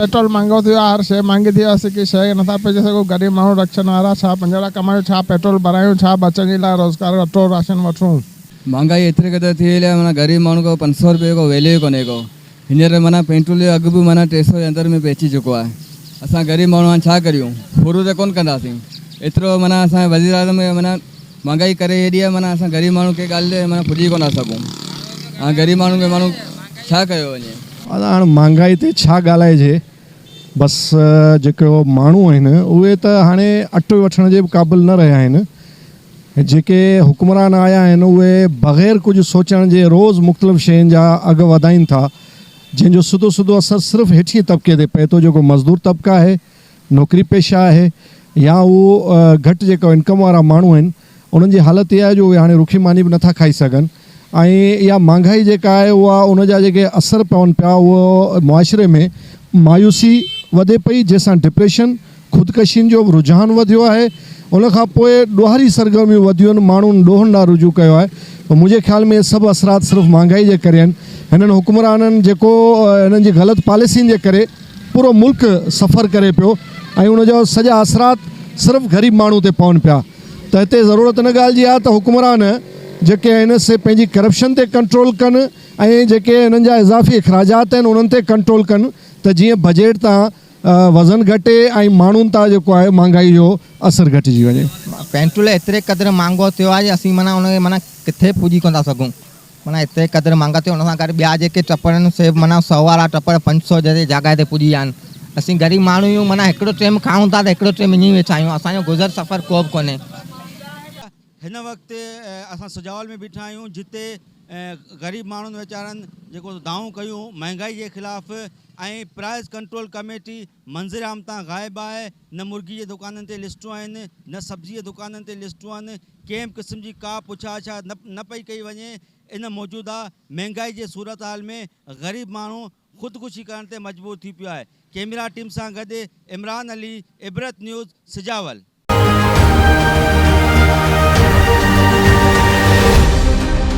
Petrol مهانگو ٿيو آهي هر شيء مهانگي ٿي ويو اسين ڪي شيء کي نٿا پهچي سگهون غريب ماڻهو رڪشن وارا ڇا پنجوڙا ڪمايون ڇا پيٽرول ڀرايون ڇا ٻچن جي لاء روزگار اٽو راشن وٺون. مهانگائي ايتري قدر ٿي وئي آهي معنيٰ غريب ماڻهو کي پنج سؤ روپيي جو ڪو ويليو ئي ڪونهي ڪو. هينئر معنيٰ پينٽول جو اگهه به معنيٰ ٽي سئو جي اندر ۾ به اچي چڪو آهي. اسان غريب ماڻهو هاڻ ڇا ڪريون؟ ڦرو ته ڪونه ڪنداسين. ايترو معنيٰ اسان جي وزيراعظم هي معنيٰ مهانگائي ڪري هيڏي آهي معنيٰ اسان غريب ماڻهو ڪنهن ڳالهه تي معنيٰ پڄي ڪونه ٿا سگهون. هاڻ غريب ماڻهن کي ماڻهو ڇا ڪيو وڃي؟ اسان هاڻ مهانگائي تي ڇا ڳالهائجي؟ بس جيڪي ماڻهو آهن اهي ته هاڻي اٽ وٺڻ جي به قابل نه رهيا آهن. جيڪي حڪمران آيا آهن اهي بغير ڪجهه سوچڻ جي روز مختلف شين جا اگهه وڌائين ٿا جنهن جو سڌو سڌو اثر صرف هيٺئين طبقي تي پئي ٿو جيڪو مزدور طبقه آهي، نوڪري پيشه آهي يا اهو گهٽ جيڪا انڪم وارا ماڻهو آهن. انهن جي حالت اها آهي جو اهي هاڻي رکي ماني به نٿا کائي سگهن ۽ اها مهانگائي جيڪا آهي اها ان جا جيڪي اثر پون پيا اهو معاشري ۾ مايوسي وڌي پئي جنهن سان ڊپريشن، خودڪشين جو رجحان وڌيو آهي ان کان پوء ڏوهاري سرگرميون وڌيون ماڻهن ڏوهن ڏانهن رجوع ڪيو آهي منهنجي خيال ۾ اهي سڀ اثرات صرف مهانگائي جي ڪري آهن هنن حڪمرانن جيڪو هنن جي غلط پاليسين جي ڪري پورو ملڪ سفر ڪري پيو ۽ ان جا سڄا اثرات صرف غريب ماڻهو تي پون پيا. ته هتي ضرورت ان ڳالهه جي آهي ته حڪمران جيڪي آهن سي پنهنجي ڪرپشن تي ڪنٽرول ڪن ۽ جيڪي هنن جا اضافي اخراجات آهن انهن تي ڪنٽرول ڪن ته جيئن بجيٽ تان وزن گهٽي ۽ ماڻهن تان جيڪو آهي مهانگائي جو اثر گهٽجي وڃي. پينٽول ايتري قدر مهانگو ٿيو آهي جو اسين معنيٰ ان کي معنيٰ ڪٿي پوڄي ڪونه ٿا سگهون. معنيٰ ايتري قدر مانگا ٿي ان سان گڏ ٻيا جيڪي ٽپڙ آهن سي به معنيٰ سؤ وارا ٽپڙ پنج سؤ جي جاڳائي تي پڄي ويا آهن اسين غريب ماڻهو آهيون معنيٰ هڪڙو ٽيم کائون ٿا ته هڪڙو ٽيم اڃي ويٺا آهيون اسان جو گذر سفر ڪو به ڪونهي. هن وقت اسان سجاول ۾ بيٺا آهيون جتي غريب ماڻهن ويچارن جيڪو دانهون ڪيون مهانگائي جي خلاف ۽ پرائز ڪنٽرول ڪميٽي منظر عام تان غائب آهي، نه مرغي جي دڪانن تي لسٽون آهن، نه سبزي جي دڪانن تي لسٽون آهن، ڪنهن به قسم جي ڪا پڇا اڇا نه پئي ڪئي وڃي، ان موجوده مهنگائي جي صورتحال ۾ غريب ماڻهو خودڪشي ڪرڻ تي مجبور ٿي پيو آهي. ڪئميرا ٽيم سان گڏ عمران علي، عبرت نيوز، سجاول.